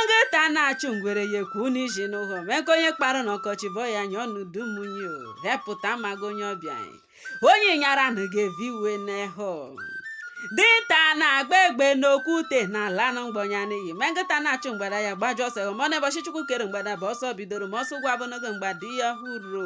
nkịta na-achụ ngwere ya ekwu n'isi n'ụhọ mee ka onye kpara n'ọkọchị bụ ọ ya-anya n'udu munyi o hepụta maga onye ọbịa anyị. onye nyara na ga-evi iwe n'eho dinta na-agba egbe n'okwute na-ala na mgbọ nya n'iyi mee nkịta na-achụ mgbada ya gbajụ ọsọ ma ọ na ụbọchị chukwu kere mgbada bụ ọsọ bidoro ma ọsọ ụgwọ abụnogo mgbada ya hụrụ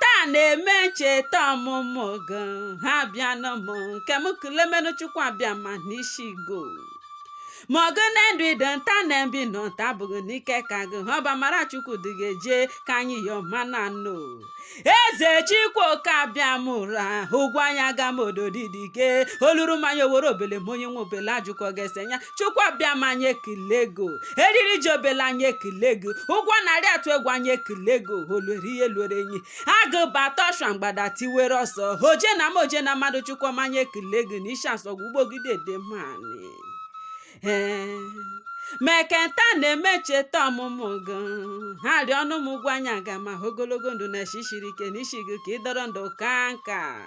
taa na-eme ncheta ọmụmụ gị ha bịa n'ụmụ nke m kulemenu chukwu abịama n'isi go ma ọ gị na-edu ido nta na mbi nọ nta abụghị n'ike ka gị ha ọba mara chukwu dị gị eje ka anyị yọ mana nọ eze chukwu oke abịama ụra ụgwọ anya ga m ododidike oluru mmanya owere obele ma onye nwe obele ajụkọ ga-ese ya chukwu abịama anyị ekele gị o. eriri ji obele anyị ekele gị ugwu a na-arị atụ egwu anyị ekele gị o. olwere ihe lwere enyi agụ bata ọshwa mgbada tiwere ọsọ oje na mmụọ oje na mmadụ chukwu ọma anyị ekele gị na ishi asogwa ubogidi edem anị ee meketa na-eme ncheta ọmụmụ gị ha rịọ ọnụ m ụgwọ anyị aga ma ogologo ndụ na eshi shiri ike n'isi gị ka ị dọrọ ndụ kaa nka